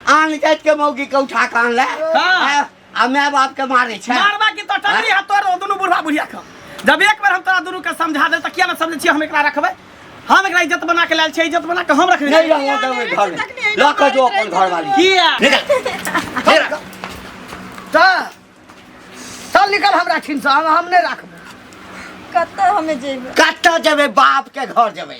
आन जात के मौगी के उठा के आनले हाँ। आ माय बाप के मारे छै मारबा की तो टंगरी हाथ तोड़ दोनों बुढ़वा बुढ़िया का जब एक बार हम तोरा दोनों के समझा दे तो किया ना समझे छी हम एकरा रखबे हम एकरा इज्जत बना के लाल छी इज्जत बना के हम रखने नहीं रहबो देबै घर में लऽ कऽ जो अपन घर वाली किया निकल चल चल निकल हमरा ठिन से हम हम नहीं रखबे कतऽ हमे जेबै कतऽ जेबै बाप के घर जेबै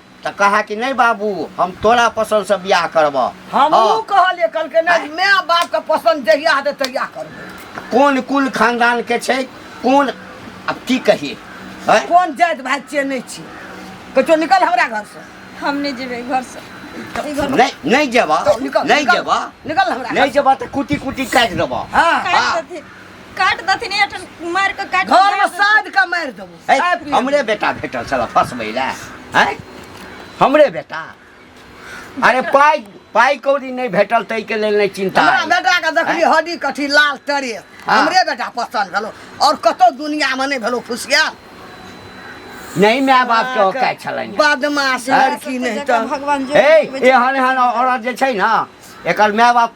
तऽ कहा कि नहि बाबू हम तोरा पसन्द से बियाह करब हम हाँ। कहलिए कल के नहीं मैं बाप के पसंद जहिया हेतै तहिया करब कौन कुल खानदान के छै कौन अब की कहिए है कौन जात भाई छियै नहीं छी कहियो निकल हमरा घर से हम नहीं जेबे घर से नहीं नहीं जेबा निकल नहीं जेबा निकल हमरा नहीं जेबा तो कुटी कुटी काट देबा हां काट दथिन काट दथिन एठन मार के काट घर में साध के मार देबो है, साथ में। हमरे बेटा भेटल छल फसबै लए है हमरे बेटा अरे पाइ पाइ कौड़ी नहि भेटल ताहिके लेल नहि चिन्ता हमरा अइ। बेटा के देखली हैं? हड्डी कथी लाल तरे हाँ। हमरे बेटा पसंद भेलो और कतौ दुनिया में नहीं भेलो फुसिया नहि माय बापके औकाइ छलनि हैं। बदमाश हैं? लड़की नहीं तो भगवान जो ए एहन एहन औरत जे छै ने एकर माय बाप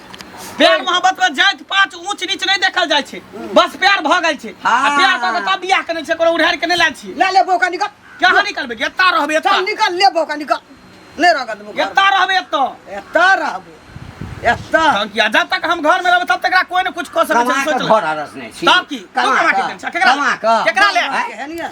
प्यार मोहब्बत में जात पात ऊंच नीच नहीं देखल जाय छै बस प्यार भ गेल छै आ हाँ। प्यार क के तब बियाह केने छै कोनो उधार के नहीं लाल छी ले ले बोका निकल कहाँ निकलबे एता रहबे एता चल निकल ले बोका निकल ले रगत बोका एता रहबे एता एता रहबे एता हम किया जब तक हम घर में रहबे तब तक कोई ने कुछ क सके कमा छै के सोच घर ले हरस नहीं छी तब की कमा कमा के केकरा ले केकरा ले एहनिया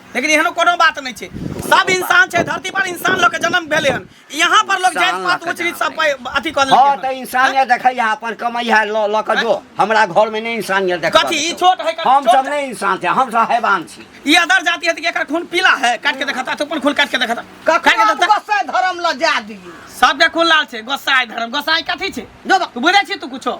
लेकिन एहनो कोनो बात नहि छै सब इंसान छै धरती पर इंसान लोग के जन्म भेले हन यहाँ पर लोग जात पात उच्च नीच सब पे- अथी कर हाँ तो लेलकै इंसानियत देखै है अपन कमाई है लो लो के जो हमरा घर में नहीं इंसानियत देख कथी ई छोट है हम सब नहीं इंसान थे हम सब हैवान छी ई अदर जाति है त एकर खून पीला है काट के देखता तो अपन खून काट के देखता काट के ककरो देखता गोसाई धर्म लऽ जाए दियै सबके खून लाल छै गोसाई धर्म गोसाई कथी छै जो बा- तू बुझै छी तू कुछो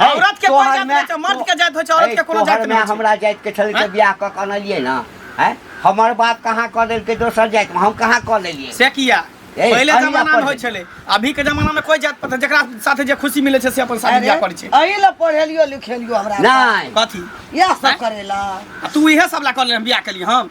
है, औरत के कोन तोहर जात में- होइ छै मर्द के जात होइ छै औरत है, के कोनो तोहर जात में नहि छै हमरा जात के छल के हैं? बियाह क के अनलिए ना है हमर बाप कहाँ कह देलकै दोसर जात में हम कहाँ कह देलिए से किया ए, पहिले अरे जमाना में अपन- होइ छलै अभी के जमाना में कोई जात पता जकरा साथे जे खुशी मिलै छै से अपन शादी बियाह करै छै अही ला पढ़ेलियो लिखेलियो हमरा नहीं कथी इएह सब हैं? करेला आ तू इहे सब ला कर ले बियाह केलिए हम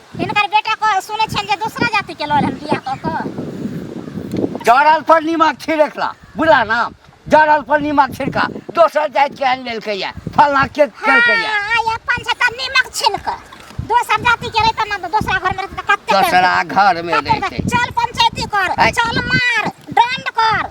हिनकर बेटा को सुनै छल जे दोसरा जाति के लड़ल बियाह कऽ कऽ जड़ल पर नीमक छिड़कला बुझला ना जड़ल पर नीमक छिड़का दोसर जाति के आनि लेलकै या फलना के केलकै या हाँ, आइ अपन छै तऽ नीमक छिलक दोसर जाति के रहितै ना तऽ दोसरा घर में रहितै तऽ कते दोसरा घर में कते रहतै चल पंचायती कर आइ। चल मार दंड कर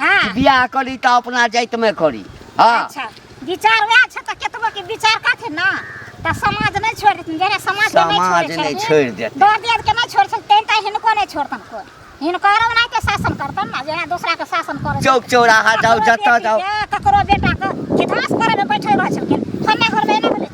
हाँ कि बियाह करी त अपना जाइत में करी हां अच्छा विचार वएह छै तऽ केतबो के विचार करथिन ना तऽ समाज नहि छोड़ देथिन जरे समाज के नहि समाज छोड़े नहि छोड़ि देथिन। दर दियाद के नहि छोड़े छै तें तऽ हिनको नहि छोड़तन कोई हिनकर ओना के शासन करतन ना जेना दोसरा के शासन करे चौक चौराहा जाउ जतऽ जाउ ककरो बेटा के कि धास करे में बैठल रह छलखिन फन्ना घर में एना भेलै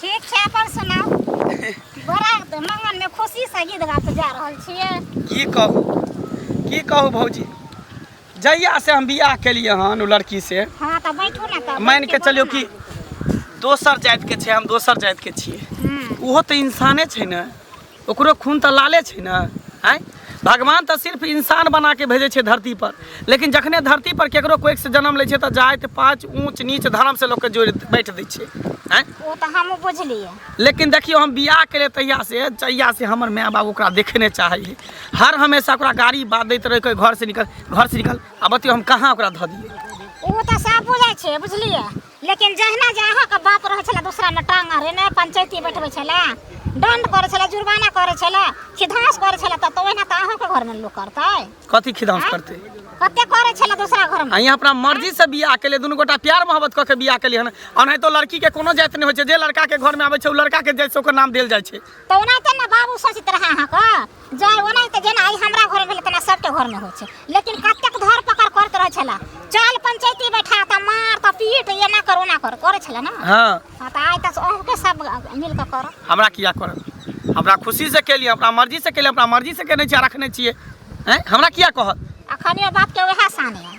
ठीक छै अपन सुनाउ बड़ा मंगन में खुशी से गीत गात जा रहल छियै की कहू की कहू भौजी जहिया से हम बियाह केलिए हन ओ लड़की से हां त बैठू ना त मान के चलियो कि दोसर जात के छै हम दोसर जात के छियै हम्म। ओहो तऽ इंसाने छै ने ओकरो खून तऽ लाले छै ने आँय भगवान तऽ सिर्फ इंसान बना के भेजै छै धरती पर लेकिन जखने धरती पर केकरो कोइक से जन्म लै छै तऽ जाति पाँच ऊँच नीच धर्म से लोकके जोड़ि बैठ दै छै आँय ओ तऽ हमहूँ बुझलियै लेकिन देखियौ हम बियाह केलियै तहिया से जहिया से हमर माय बाप ओकरा देखे नहि चाहै है हर हमेशा ओकरा गाड़ी बात दैत रहै कहै घर से निकल घर से निकल आ बतियौ हम कहाँ ओकरा धऽ दियै ओ तऽ सब बुझै छै बुझलियै लेकिन जहिना जे अहाँके बात रहै छलै दोसरामे टांग अरेने पंचायती बैठबै छलै दंड करै छलै जुर्माना करै छलै खिधास करै छलै तऽ ओहिना तऽ अहाँके घरमे लोक करतै कथी खिधास करतै कते करै छलै दोसरा घरमे अहाँ अपना मर्जी से बियाह केले दुनू गोटा प्यार मोहब्बत कऽ के बियाह केलिए हन अनै तो लड़की के कोनो जाति नहि होइ छै जे लड़का के घर में आबै छै ओ लड़का के जाति से ओकर नाम देल जाइ छै तऽ ओनाहिते ने बाबू सोचित रहै अहाँके जाय ओना तऽ जेना आइ हमरा घर भेलै तेना सबके घरमे होइ छै लेकिन कतेक धर पकड़ करैत रहै छला चल पंचायती बैठा तऽ मार तऽ पीट एना कर ओना कर करै छला ने हाँ हाँ, तऽ आइ तऽ अहूँके सब मिल कऽ करऽ हमरा किया करब हमरा खुशी से केली अपना मर्जी से केली अपना मर्जी से केने छियै आ रखने छियै हैं हमरा किया कहत अखनियो बापके उएह सानी है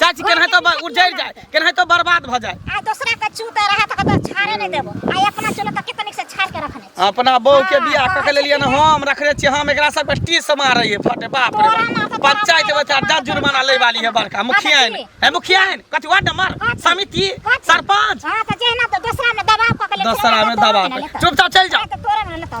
चाची केना तो ब- उजड़ जाए केना तो बर्बाद भ जाए आ दूसरा के चूते रहा त कतो छाड़े नहीं देबो आ अपना चूल्हा त कितनी से छाड़ के रखने छी। अपना बहू के बियाह क के लेलिए ना हम रखले छी हम एकरा सब टी से मारे है फटे बाप रे तोरा माथा बाप। पंचायत में चार दस जुर्माना ले वाली है बड़का मुखिया है कथी? है मुखिया है कथी वार्ड नंबर कथी? समिति कथी? सरपंच हां त जेहना त दूसरा में दबाव क के ले दूसरा में दबा के। चुपचाप चल जाओ तो तोरा में न तो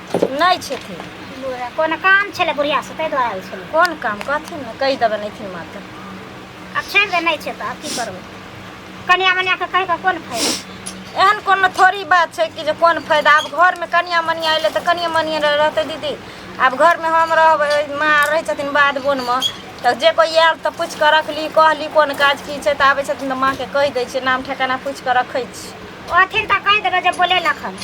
नहि छथिन बुढ़िया कोनो काम छलै बुढ़िया से ताहि दुआरे आयल छलै कोन काम कहथिन ने कहि देबै नहि थी मात्र आब छोड़ि दे नहि छै तऽ आब की करबै कनिया मनिया के कहि कऽ कोन फायदा एहन कोनो थोड़ी बात छै कि जे कोन फायदा आब घरमे कनिया मनिया अयलै तऽ कनिया मनिया रह- रहतै दीदी आब घरमे हम रहबै माँ रहै छथिन बाध बोनमे तऽ जे कोइ आयल तऽ पूछि कऽ रखली कहली कोन काज की छै तऽ आबै छथिन तऽ माँके कहि दै छियै नाम ठेकाना पूछि कऽ रखै छी ओथिन तऽ कहि देबै जे बोले लखन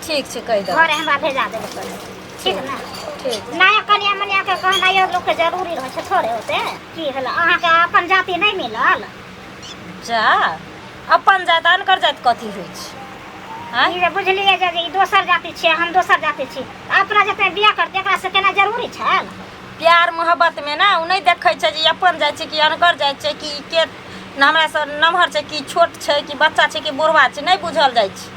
ठीक छै कहि देबै घरे हमरा भेजा देबे करे ठीक ने ठीक नया कनिया मनिया के कहना यो लोग के जरूरी रहे छै थोड़े होते की भेल अहाँ के अपन जाति नहीं मिलल जा अपन जात अनकर जात कथी होइ छै आँय? ई जे बुझलिए जे ई दोसर जाति छियै हम दोसर जाति छी अपना जते बियाह करते एकरा से केना जरूरी छै प्यार मोहब्बत में ना उ नहीं देखे छै जे ई अपन जात छै कि अनकर जात छै कि ई के हमरा से नमहर छै कि छोट छै कि बच्चा छै कि बुढ़वा छै नहीं बुझल जाइ छै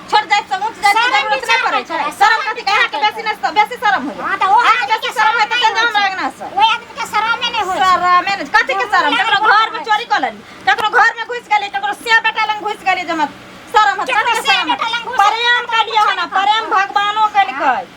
छोड़ जाए से उठ जाए शरम के उतना करे छै शरम कथी कहा के बेसी ने बेसी शरम हो हां त ओ आदमी के शरम है त के जान लगना से ओ आदमी के शरम नहीं हो शरम है कथी के शरम ककरो घर में चोरी कर लेली ककरो घर में घुस गेली ककरो से बेटा लंग घुस गेली जमा शरम है कथी के शरम प्रेम के लिए है ना प्रेम भगवानो के लिए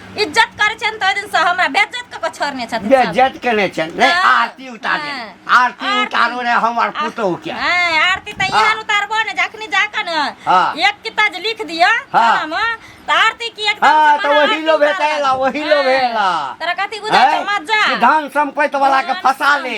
इज्जत करै छनि तऽ ओहि दिनसँ हमरा बेज्जत कऽ कऽ छोड़ने छथिन सब। बेज्जत केने छनि रे हँ, आरती उतारे हँ। आरती आरती। उतारो रे हमर पुतहु के हँ, आरती तऽ हँ। एहन उतारबो ने जखनी जाकऽ ने हँ। एक किता जे लिख दिअ हँ। खानामे तऽ आरती की एकदम हँ से तऽ मने ओही आरती लो उतारल। भेटेला ओही लो हँ। भेला तोरा कथी बुझाइ छौ मजा धन सम्पत्ति वाला के फंसा ले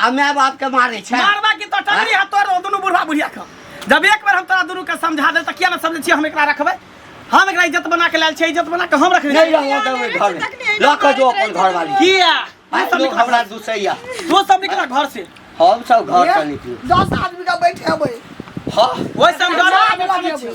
आ माय बाप के मारे छै मारबा की तो टंगरी हाथ तोड़ दो दोनों बुढ़वा बुढ़िया के जब एक बार हम तोरा दोनों के समझा दे त किया ना समझे छियै हम एकरा रखबै हम एकरा इज्जत बना के लायल छै इज्जत बना के हम रखने नहीं रहूं देवे घर में ल के जो अपन घर वाली किया भाई तू सब लोग निकल हमरा दुसैया तू सब निकल घर से हम सब घर से निकलू दस आदमी का बैठे अबै हां ओए सब घर आदमी आदमी छियै।